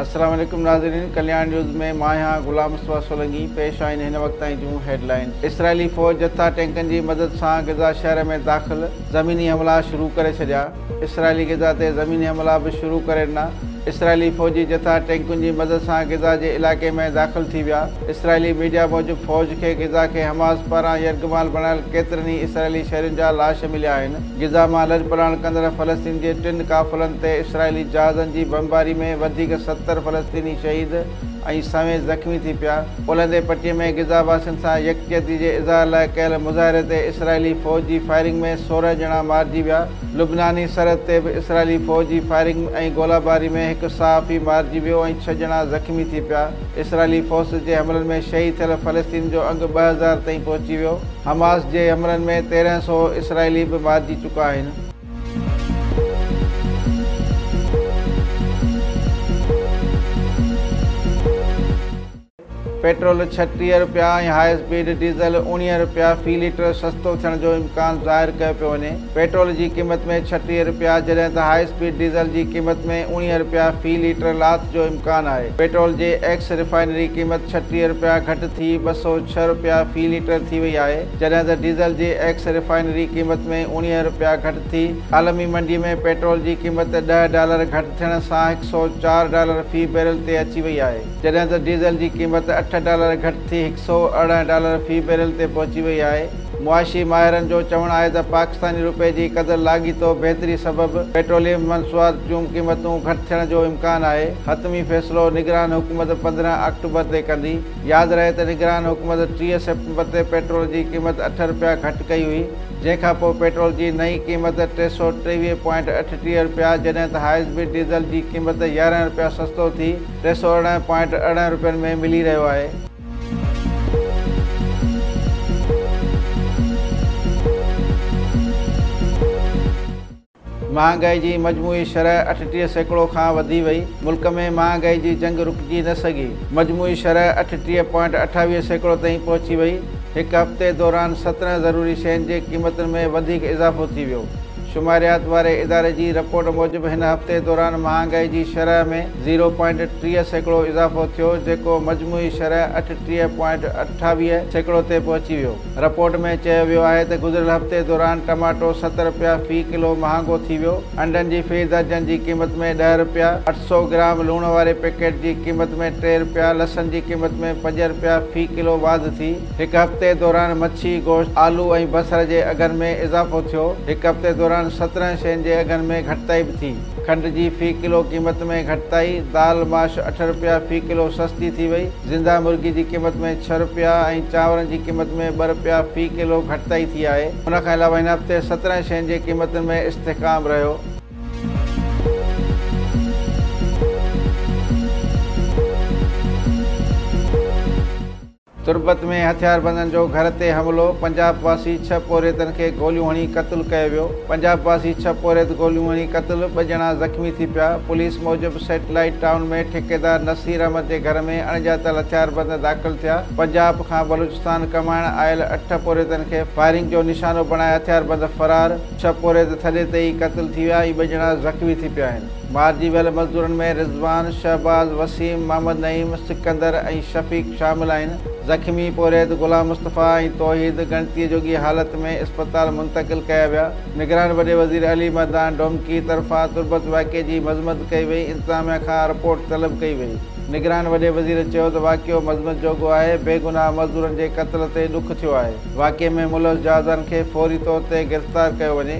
السلام عليڪم ناظرين ڪلياڻ نيوز ۾ مان آهيان غلام مصطفيٰ سولنگي پيش آهن هن وقت تائين جون هيڊ لائنز اسرائيلي فوج جٿا ٽينڪن جي مدد سان غزه شهر ۾ داخل زميني حملا شروع ڪري ڇڏيا، اسرائيلي غزه تي زميني حملا به شروع ڪري ڏنا، اسرائيلي فوجي جٿا ٽينڪن جي مدد سان غزه جي علائقي ۾ داخل ٿي ويا، اسرائيلي ميڊيا موجب فوج کي غزه کي حماس پاران يرغمال بڻايل ڪيترن ئي اسرائيلي شهرين جا لاش مليا آهن، غزه مان لڏپلاڻ ڪندڙ فلسطين جي ٽن قافلن تي اسرائيلي جهازن جي بمباري ۾ وڌيڪ ستر فلسطيني شهيد. ۽ سوين زخمي ٿي پيا. اولهندي پٽي ۾ غزه واسين سان يڪجهتي جي اظهار لاء ڪيل مظاهري تي اسرائيلي فوج جي فائرنگ ۾ سورهن ڄڻا مارجي ويا. لبناني سرحد تي به اسرائيلي فوج جي فائرنگ ۽ گولا باري ۾ هڪ صحافي مارجي ويو ۽ ڇهه ڄڻا زخمي ٿي پيا. اسرائيلي فورسز جي حملن ۾ شهيد ٿيل فلسطين جو انگ ٻه هزار تائين پهچي ويو. حماس جي حملن ۾ تيرنهن سؤ اسرائيلي به مارجي چڪا آهن. پيٽرول ڇٽيهه رپيا ۽ هاء اسپيڊ ڊيزل اوڻيهه رپيا في ليٽر سستو ٿيڻ جو امڪان ظاهر ڪيو پيو وڃي، پيٽرول جي قيمت ۾ ڇٽيهه رپيا جڏهن ته هاء اسپيڊ ڊيزل جي قيمت ۾ اوڻيهه رپيا في ليٽر لاٿ جو امڪان آهي، پيٽرول جي ايڪس ريفائنري قيمت ڇٽيهه رپيا گهٽ ٿي ٻه سؤ ڇهه رپيا في ليٽر ٿي وئي آهي. جڏهن ته ڊيزل جي ايڪس ريفائنري قيمت ۾ اوڻيهه رپيا گهٽ ٿي. عالمي منڊي ۾ پيٽرول جي قيمت ڏهه ڊالر گهٽ ٿيڻ سان هڪ سؤ چار ڊالر في بيرل تي اچي وئي آهي، جڏهن ته ڊيزل جي قيمت اٺ ڊالر گهٽ ٿي هڪ سؤ ارڙهن ڊالر في بيرل تي پهچي وئي آهي. معاشي ماهرن جو چوڻ آهي ته پاڪستاني رپئي جي قدر لاڳيتو بهتري سبب پيٽروليم منصوات جون قيمتون گهٽ ٿيڻ جو امڪان آهي، حتمي فيصلو نگران حڪومت پندرهن آڪٽوبر تي ڪندي. ياد رهي ته نگران حڪومت ٽيهه سيپٽمبر تي پيٽرول جي قيمت اٺ رپيا گهٽ ڪئي هئي، جنهن کان پوء پيٽرول جي نئين قيمت ٽي سؤ ٽيويهه پوائنٽ اٺٽيهه رپيا جڏهن ته هاء اسپيڊ ڊيزل جي قيمت يارهن رپيا سستو ٿي ٽي سؤ ارڙهن پوائنٽ ارڙهن رپين ۾ ملي رهيو آهي. مهانگائي جي مجموعي شرح اٺٽيهه سيڪڙو کان وڌي وئي، ملڪ ۾ مهانگائي جي جنگ رڪجي نه سگهي، مجموعي شرح اٺٽيهه پوائنٽ اٺاويهه سيڪڙو تائين پهچي وئي، هڪ هفتي دوران سترهن ضروري شين جي قيمتن ۾ وڌيڪ اضافو ٿي ويو، شماريات واري اداري جي رپورٽ موجب هن هفتي دوران مهانگائي جي شرح ۾ زيرو پوائنٽ ٽيهه سيڪڙو اضافو ٿيو جيڪو مجموعي شرح اٺٽيهه پوائنٽ اٺاويهه سيڪڙو تي پهچي ويو. رپورٽ ۾ چيو ويو آهي ته گذريل هفتي دوران ٽماٽو ست رپيا في ڪلو مهانگو ٿي ويو، انڊن جي في درجن جي قيمت ۾ ڏهه رپيا، اٺ سؤ گرام لوڻ واري پيڪيٽ جي قيمت ۾ ٽي رپيا، لسن جي قيمت ۾ پنج رپيا في ڪلو واڌ ٿي، هڪ هفتي دوران مڇي، گوشت، آلو ۽ بصر جي اگهن ۾ اضافو ٿيو، هڪ هفتي دوران سترهن شين جي اگهن ۾ گهٽتائي به ٿي، کنڊ جي في ڪلو قيمت ۾ گهٽتائي، دال، ماش اٺ رپيا في ڪلو سستي ٿي وئي. زنده مرغي جي قيمت ۾ ڇهه رپيا ۽ چانورن جي قيمت ۾ ٻه رپيا في ڪلو گهٽتائي ٿي آهي، ان کان علاوه هن هفتي سترهن شين جي قيمتن ۾ استحڪام رهيو. تربت ۾ هٿياربندن جو گهر تي حملو، پنجاب واسي ڇهه پورهيتن کي گوليون هڻي قتل ڪيو ويو، پنجاب واسي ڇهه پورهيت گوليون هڻي قتل، ٻه ڄڻا زخمي ٿي پيا، پوليس موجب سيٽلائيٽ ٽائون ۾ ٺيڪيدار نصير احمد جي گهر ۾ اڻڄاتل هٿياربند داخل ٿيا، پنجاب کان بلوچستان ڪمائڻ آيل اٺ پورهيتن کي فائرنگ جو نشانو بڻائي هٿياربند فرار، ڇهه پورهيت ٿڏي تي ئي قتل ٿي ويا ۽ ٻه ڄڻا زخمي ٿي پيا آهن. مارجي ويل مزدورن ۾ رضوان، شهباز، وسيم، محمد نعيم، سڪندر ۽ شفيق شامل آهن، زخمي پورهيت غلام مصطفيٰ ۽ توحيد ڳڻتي جوڳي حالت ۾ اسپتال منتقل ڪيا ويا. نگران وڏي وزير علي مردان ڊومڪي طرفان تربت واقعي جي مذمت ڪئي وئي، انتظاميا کان رپورٽ طلب ڪئي وئي. نگران وڏي وزير چيو ته واقعو مذمت جوڳو آهي، بي گناهه مزدورن جي قتل تي ڏک ٿيو آهي، واقعي ۾ ملوث جوازان کي فوري طور تي گرفتار ڪيو وڃي.